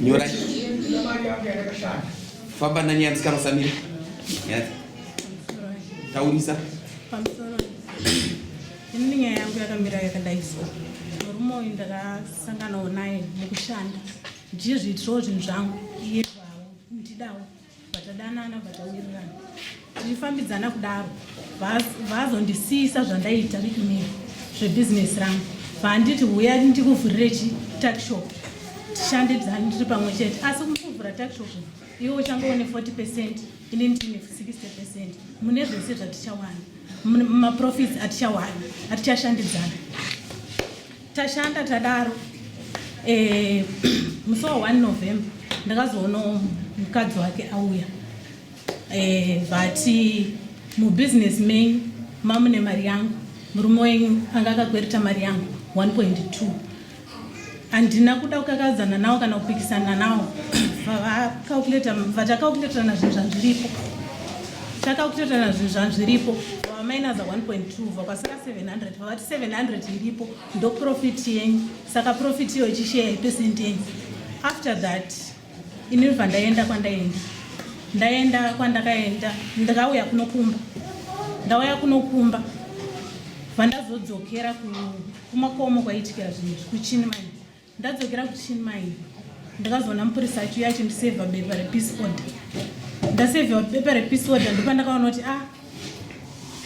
nyora famba nani yandisika musamira taurisa ini nyaya yangu yakamira yakadai so murume uyu ndakasanganawo naye mukushanda ndiye zviitirawo zvinhu zvangu iye zvawo ndidawo batadanana batawirirana tichifambidzana kudaro vazondisiisa zvandaita riinii zvebhizinesi rangu vaanditi huya ndikuvhurire chitakshop tishande dzani tiri pamwe chete asi kuvhura takshop iwe uchangoone 40 percent ini ndine 60 percent mune zvese zvatichawana maprofits atichawana atichashandidzana tashanda tadaro eh, musi wa 1 november ndakazoona mukadzi wake auya eh, but mubusiness main mamune mari yangu murume wenyu anga akakwereta mari yangu 1.2 handina kuda kukakadzana nawo kana kupikisana nawo vatakakuleterana zvinhu zvandiripo takakuleterana zvinhu zvandiripo vamainaza 1.2 vakasara 700 vati 700 iripo ndoprofit yenyu saka profit iyo ichisheya ipesent yenyu after that ini bva ndaenda kwandaenda ndaenda kwandakaenda ndakauya kunokumba ndauya kunokumba vandazodzokera kumakomo kwaitikira zvinhu zvikuchini manje ndadzokera kuchini mai ndakazoona mupurisa achiuya achindisevha bepa repeace order ndasevhiwa bepa repeace order ndopandakaona kuti a ah,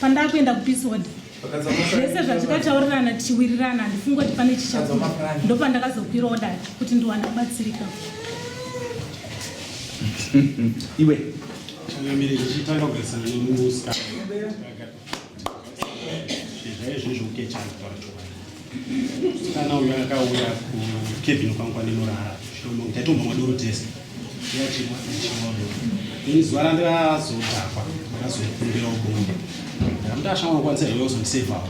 pandaa kuenda kupeace order zvese zvatikataurirana tichiwirirana handifungi kuti pane chichakuda ndopandakazokwira odai kuti ndiwane kubatsirika iwe Kana uyo akauya kukebhini kwangu kwanenorara zvitomo ndaitomba madoro tese yachimwa achimwa doro ini zuva randazodhakwa ndakazokumbira ubongo ndamuti ashama kukwanisa iwe uzondisevawo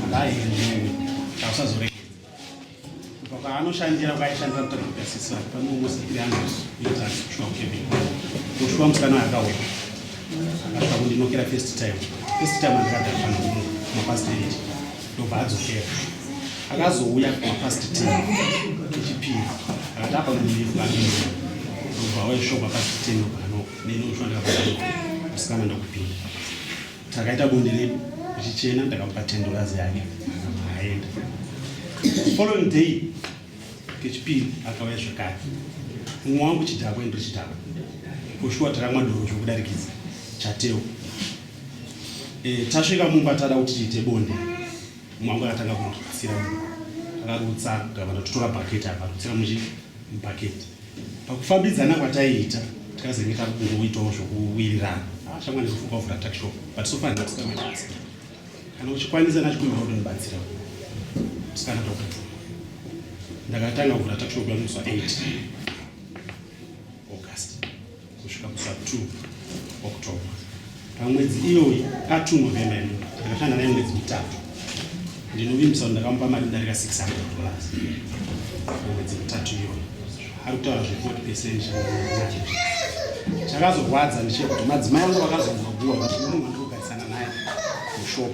andaendewe tausazoregedza kubva kwaanoshandira kwaishandira mutakutasisa panomusikiri angu ita shuwa kukebhini kushuwa musikana akauya akasvika kundinokera first time first time andikadhakwa nomu mapasitendi ndobva adzokera akazouya kumapast t echipiri akati apa mulive bainda ndobva auya shop apast t nobano neni ushonda musikana ndokupinda takaita bonde redu richichena ndakamupa tendorazi yake aenda following day kechipiri akauya zvekare mumwe wangu chidhakwa endo chidhakwa kushuwa takamwa doro zvokudarikidza chateo Eh, tasvika mumba tada kuti tiite bonde mwangu akatanga kurutsira akarutsa gavana totora bhaketi apa rutsira muchi bhaketi pakufambidzana kwataiita tikazenge tari kungoitawo zvokuwirirana ah, shamwa ndizofunga kuvhura takshop but so far ndatikamanyasa kana uchikwanisa nachikumbira kuti ndibatsira sikana toka ndakatanga kuvhura takshop yamusa 8 august kusvika kusa 2 October. Pamwedzi iyoyi pa2 November ino ndakashanda naye mwedzi mitatu. Ndinovimbisa kuti ndakamupa mari kudarika 600 dollars mwedzi mitatu iyoyi. Ari kutaura zve 40 percent chakazorwadza ndichekuti madzimai angu vakazongoguwa kuti munhu andikugarisana naye mushop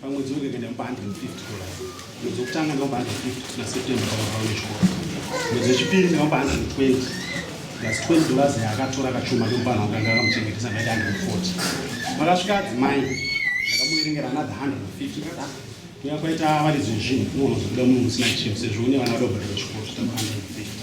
pamwedzi unenge kuenda mupa 150 dollars mwedzi wekutanga ndinopa 150 na september pamabhaune chikoro mwedzi wechipiri ndinopa 120 plus 20 dollars yaakatora kachuma kemupana wakanga akamuchengetesa ngaita 140 makasvika adzimai ndakamuverengera another 150 kada kuya kwaita varidzi vezvinhu unoona zvokuda munhu musina chiro sezvo une vana vadobhadhara chikoro zvitamba 150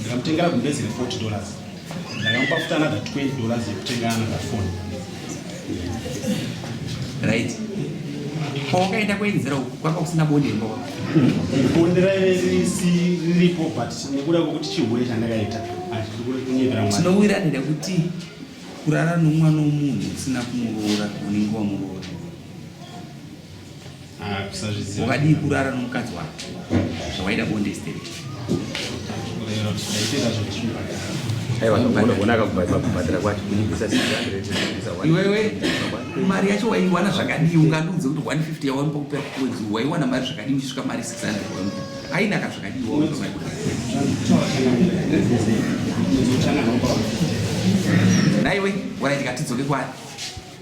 Ndakamutengera gumbezi re 40 dollars ndakamupa futi another 20 dollars yekutenga another phone right kwawakaenda kuenzera uku kwanga kusina bonde imba bonde raive riripo but nekuda kwekuti chihure chandakaita tinowiranira nekuti kurara nomwana womunhu usina kumuroora unenge wamuroora wakadii kurara nomukadzi wako zvawaida bonde state iwewe mari yacho waiwana zvakadii ungandiudze kuti 150 yawanipa kupera kwedzi waiwana mari zvakadii uchisvika mari 600 waimupa ainaka zvakadii wawanaa naiwe waraiti katidzoke kwari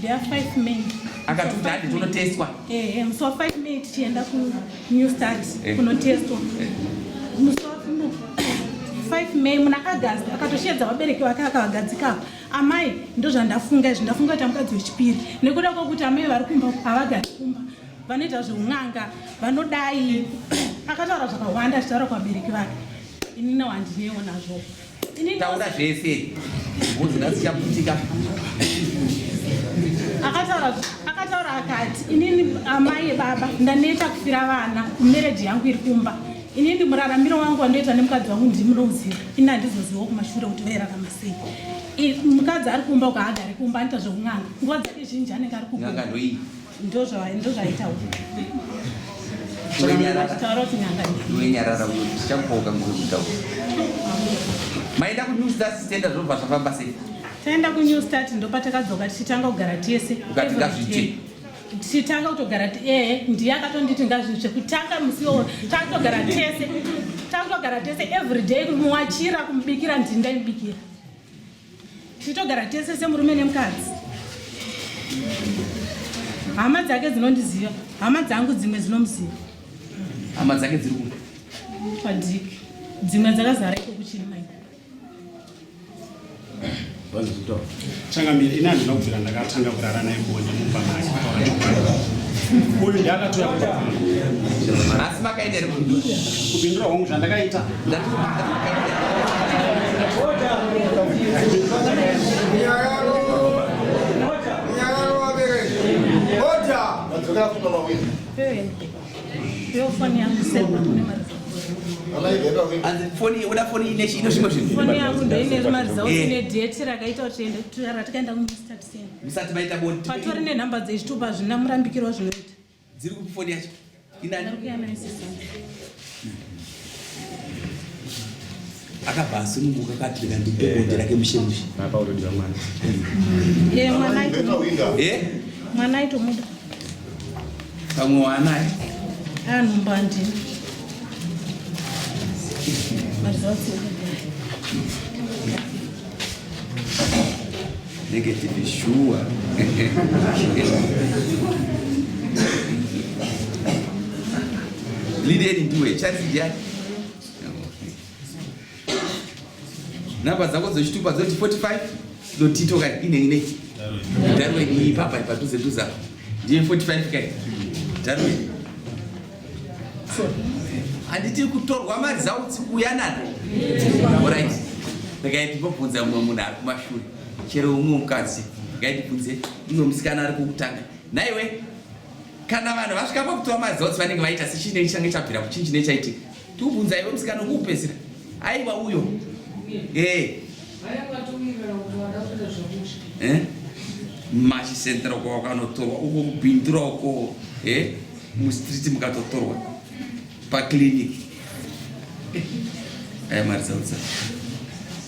There are five men. Akatuti hadi tunotestwa. Eh, eh, musi wa 5 May tichienda ku New Start eh. kunotestwa. Eh. Musi wa 5 May muna August akatoshedza vabereki vake akavagadzika. Amai ndozvandafunga izvi ndafunga kuti amukadzi wechipiri nekuda kwokuti amai vari kumba havagari kumba vanoita zveun'anga vanodai akataura zvakawanda achitaura kuvabereki vake inini wandinewo nazvo taura zvese ngozi ngasichaputika akataura akataura akati inini amai ebaba ndaneta kufira vana mereji yangu iri kumba inini muraramiro wangu wandoita nemukadzi wangu ndimunoziva ini handizozivawo kumashure kuti vairarama sei mukadzi ari kumba ukaagari kumba anoita zvekun'anga nguva dzake zhinji anenge ari kuunga maenda kunews stars tenda zvobva zvafamba sei taenda kunew start ndopatakadzoka tichitanga kugara tese tichitanga kutogara ee ndiye akatonditi ngazvitsve kutanga musi wo takutogara tese takutogara tese every day kumuwachira kumubikira ndindaimubikira tichitogara tese semurume nemukadzi hama dzake dzinondiziva hama dzangu dzimwe dzinomuziva hama dzake dziri kuda padiki dzimwe dzakazara iko kuchiri mai changamire ini handina kubvira ndakatanga kurara naye kuone mumba make uyu ndiakatoya kuasi makaita kupindura hongu zvandakaita musati maita bonde patori nenhamba dzezvitupa zvina murambikirwa zvinoita Dziri kupi foni yacho? Inani? akabva asununguka kati rega ndipe bonde rake mushemushe apa utodiwa mwana ye mwana aito ye mwana aito muda pamwe wanaye anhu mbandi marizatsi Negative shuwa. Lideni ndiwe chance jani. Namba dzako dzechitupa dzoti 45 dotito kai ine ine. Darwe ni papa ipadhuze dhuza. Ndiye 45 kai. Darwe. handiti kutorwa mari zautsi kuuya nano orit ndakaiti mbobvunza mumwe munhu ari kumashure chero umwe mukadzi ndakaiti bvunze umwe musikana ari kukutanga naiwe kana vanhu vasvika pakutorwa mari zautsi vanenge vaita sechii nei change chabvira kuchii chinei chaitika Tubvunza iwe msikana ukupedzira. Aiwa uyo. Eh. Vaya kwatumira kuti wada kuita zvokuti. Eh? Mashi center uko wakanotorwa uko kubindura uko eh mu street mukatotorwa pa clinic. Eh, eh Marisa utsa.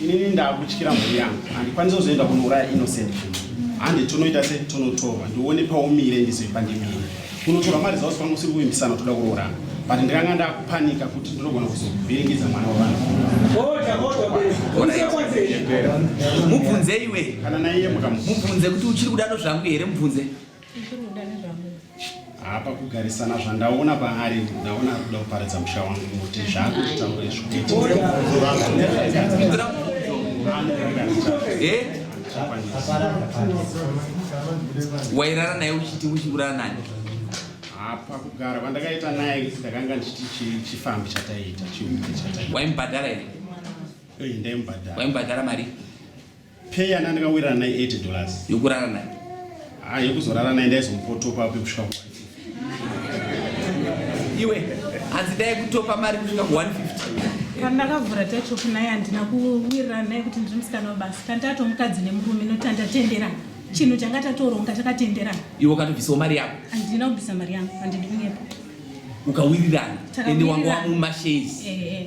inini ndakutyira mhuri yangu handikwanisa kuzoenda kunouraya innocent handi tonoita se tonotorwa ndione paumire ndizoipa ndimire kunotorwa mari zausi pangu usiri kuvimbisana toda kuroorana but ndikanga ndakupanika kuti ndinogona kuzovhiringidza mwana wavanhu mubvunze iwe kana naiye mukamubvunze kuti uchiri kudaro zvangu here mubvunze hapa kugarisana zvandaona paari ndaona ari kuda kuparidza musha wangu kuti zvangu zvitaure zvowairara naye uchiti uchiuraya nani hapa kugara kwandakaita naye ndakanga ndichiti chifambi chataiita chiuke chataita waimubhadhara here waimubhadhara mari Pay yana ndakawirana naye 80 dollars. Yokurara naye. Ah, yokuzorara naye ndaizomupotopa apo kusvika ku Iwe hanzi dai kutopa mari kusvika ku 150 pandakavhura tachopi naye handina kuwirirana naye kuti ndiri musikana wabasa kandi tato mukadzi nemurume noti andatenderana chinhu changa tatoronga takatenderana iwe ukatobvisawo mari yako handina kubvisa mari yangu handidi kunyepa ukawirirana ende wanga wamumashezi eh, eh.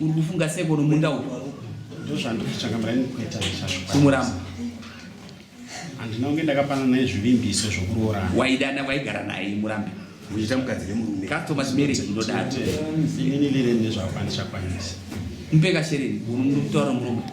Uri kufunga seko nomunda uyu? Ndozvandokutsvaga muraini kuita zvacho. Kumuramba. Handina kunge ndakapana naye zvivimbiso zvokuroorana. Waidana waigara naye murambi. Muchita mukadzi nemurume. Customer marriage inodaro. Ini lireni nezvakwanisa kwanisa. Mpeka shereni, unomutora murume.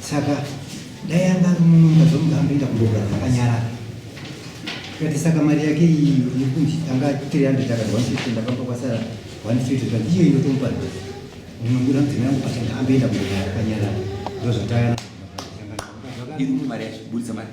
saka dai anga ari mununga zvomuga amboenda kundogara zvakanyarara kati saka mari yake iyi yekunzi anga 300 akati 150 ndakapa kwasara 150 kati iyo inotomupa nhasi munongura mudzimai yangu pachanga amboenda kundogara zvakanyarara ndozvatayana mari yacho budisa mari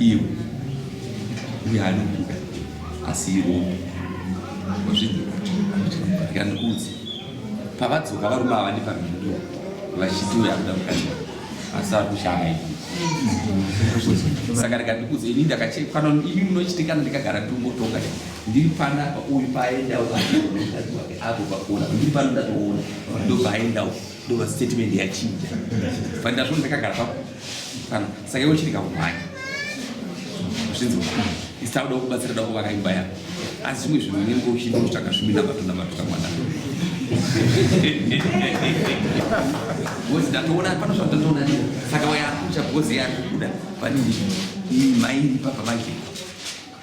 iwe uye anokuda asi iwo wazvinzwaandikudzi pavadzoka varume ava ndipamhindo vachiti uyo akuda kukaiwa asi ari kushanga ivi saka rega ndikudze ini ndakachekana imi munochitikana ndikagara ndingotonga ndiri pana uyu paaendawo apo pakona ndiri pano ndatoona ndopaendawo ndova statement yachinja but ndazvona ndakagara pa pano saka iwe chiri kakumhanya zvinzi isita kuda kubatsira da kuvaka imba yako asi zvimwe zvinhu unenge uchiita kutsvaka zvimina matunda matuka mwana bcoz ndatoona pano zvandatoona ni saka wayakucha bcoz yakubuda but mairi papa vake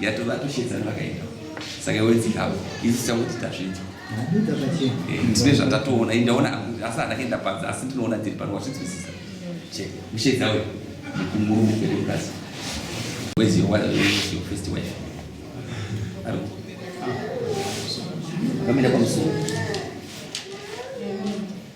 yatova atoshedzana vakaenda saka iwe dzikavo isu tichangoti tazvidzwa eh, ndine zvatatoona indaona asi handakaenda panze asi ndinoona dziri pano wazvinzwisisa che mushedza uyo murume kwedu mukasi where's your wife where's your first wife aro kamira pamusoro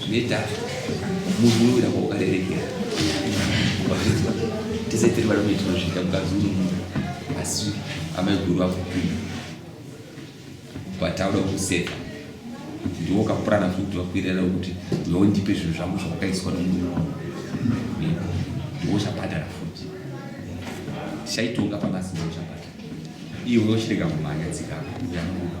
zvinoita munhu unovira kwaukarerekera wazvinzwa tese tiri vari kuti tinozviita mukadzi uri munhu asi amai guru vakupinda vataura kuseka ndiwo ukapurana futi vakuirera kuti iwe ndipe zvinhu zvangu zvawakaiswa nomunhu wangu ndiwo uchabhadhara futi chaitonga pamasi ndiwo uchabhadhara iwe uchirega kumhanya dzikako uyamuka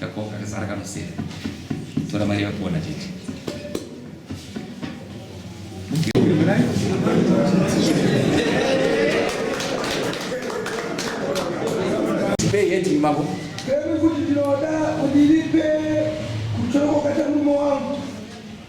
Kako kakasara kanosera. Tora mari yako na chete. Pay yet mambo. Kemi kuti ndinoda kudilipe kuchoko kata mume wangu.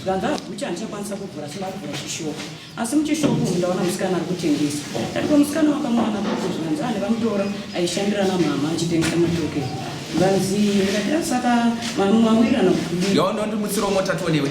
zvikanzi agucha handichakwanisa kuvhura sina kuvhura chishopu asi muchishopu umu ndaona musikana ari kutengesa ndatipa musikana wakamwana kuti zvikanzi ane vamutora aishandira namama achitengesa matoke vanzi ndikatira saka mamwe mawirirana kudiyo ndondimutsiro motatonewe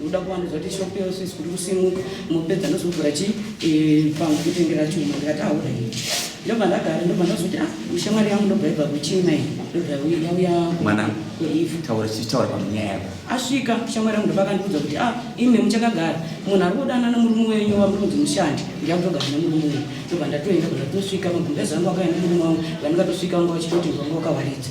unoda kuwandudzwa kuti shop yose isikuti kusimuka mopedza ndozovhura chi eh, pangu kutengera chuma ndikati aure ndobva ndagara ndobva ndazoti a ah, shamwari yangu ndobva ibva kuchina iyi ndobva yauya mwana taura chitaura panyaya yako asvika shamwari yangu ndobva akandiudza kuti a ah, ime muchakagara munhu ari kudana nemurume wenyu wamurunzi mushandi ndiyakutogara nemurume wenyu ndobva ndatoenda bva ndatosvika magumbezi angu akaenda murume wangu vandikatosvika vanga vachitoti vanga wakawaridza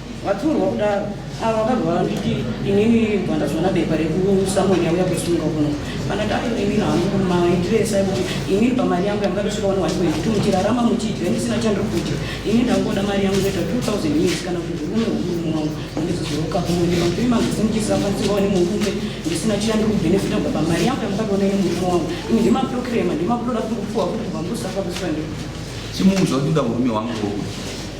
Vaturwa kudaro ava vakabva vanditi inini bva ndazoona bepa rekusamuel yauya kusunga kuno vanati ayo imi hangu maitiresa ekuti imi pamari yangu yanga ndosvika vano wati kuti muchirarama muchidya ndisina chandiri kudya ini ndangoda mari yangu inoita 2000 years kana kuti zvirume hukuru mwangu mandizozoroka kumwe ndimampiri mangu senichisafanisiwa wani murume ndisina chandiri kubhenefita kubva pamari yangu yamukatoona ine murume wangu ini ndimaproclema ndimakutoda kuti kupuwa kuti kubva musafa kuswa ndi chimunzwa kuti nda murume wangu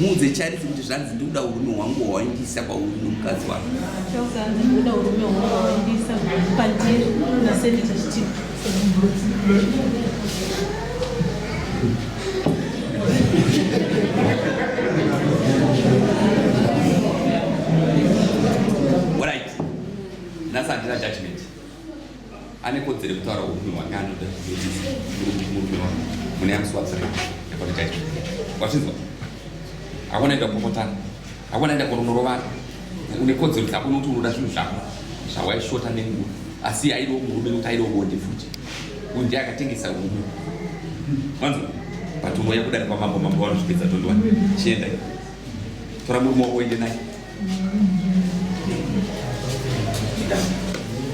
muudze charisi kuti zvanzi ndikuda urume hwangu hwawaindisa kwauri nomukadzi wako ane kodzero yekutaura upi hwake anoda murume wake mune yamuswatsira kwatitaita wachinzwa hakuna enda kupopotana hakuna enda kunonorovana une kodzero kuti hakuna kuti unoda zvinhu zvako zvawaishota nenguva asi aidiwo murume nekuti aidiwo bonde futi uyu ndiye akatengesa rume manzo but unoya kudari kwamambo mambo vanozvipedza tondiwa chienda tora murume wako uende naye